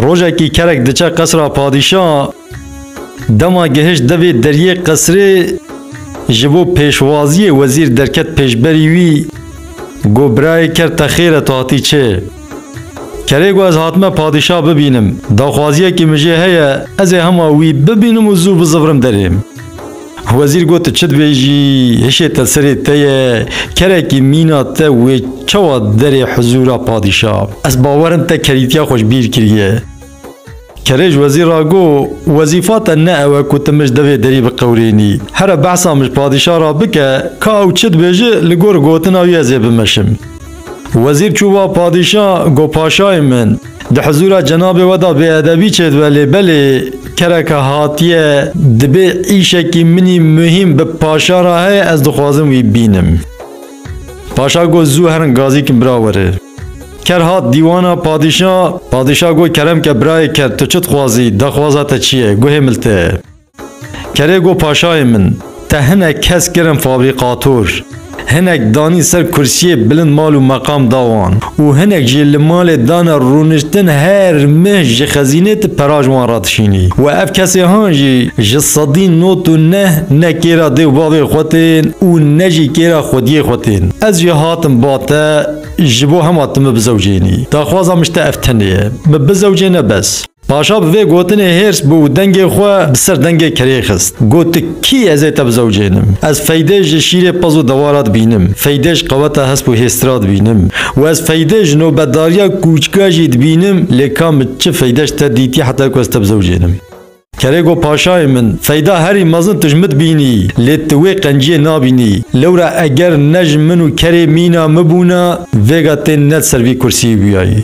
Rojekî kerek diçe qesra padîşa dema gihişt devê deriyê qesrê ji bo pêşwaziyê wezîr derket pêşberî wî got birayê ker te xêr e tu hatî çê. Kerê got ez hatime padîşa bibînim, daxwaziyekî min jê heye ez ê hema wî bibînim û zû bizivrim derê. Wezîr got, Çi dibêjî, hişê te serê te ye, kerekî mîna te wê çawa derê hizûra padîşa. Ez bawer im te kerîtiya xwe ji bîr kiriye. Kerê ji wezîr re got, Wezîfa te ne ew e ku tu min ji devê derî biqewirênî. Here behsa min ji padîşa re bike, ka ew çi dibêje, li gor gotina wî ez ê bimeşim. Wezîr çûva padîşa got paşayê min di hizûra cenabê we de bêedebî çêdibe lê belê kereke hatiye dibê îşekî minî muhîm bi paşa re heye ez dixwazim wî bînim. Paşa got zû herin gazîkin bira were. Ker hat dîwana padîşa, padîşa got kerem ke birayê ker tu çi dixwazî, dexwaza te çi ye, guhê mil te ye. Kerê got paşayê min, te hinek kes kirin fabrîkator, hinek danî ser kursiyê bilind mal û meqam da wan û hinek jî li malê dane rûniştin her meh ji xezînê tu pera ji wan re dişînî we ev kesê han jî ji sedî not û neh ne kêra dê û bavê xwe tên û ne jî kêra xwediyê xwe tên ez jî hatim ba te ji bo hema tu min bizewcênî daxwaza min ji te ev tenê ye min bizewcêne bes. Paşa bi vê gotinê hêrs bû û dengê xwe bi ser dengê kerê xist. Got tu kî ez ê te bizewcênim. Ez Feydê ji şîrê pez û dewa ra dibînim. Feydê ji qeweta hesp û hêsti ra dibînim. Û ez Feydê ji nobetdariya kûçika jî dibînim lê ka min çi feyde ji te dîtî heta ku ez te bizewcênim. Kerê got paşayê min feyda herî mezin tu ji min dibînî lê tu wê qenciyê nabînî. Lewra eger ne ji min û kerê mîna min bûna vêga tên ne di ser vî kursiyê bûyayî.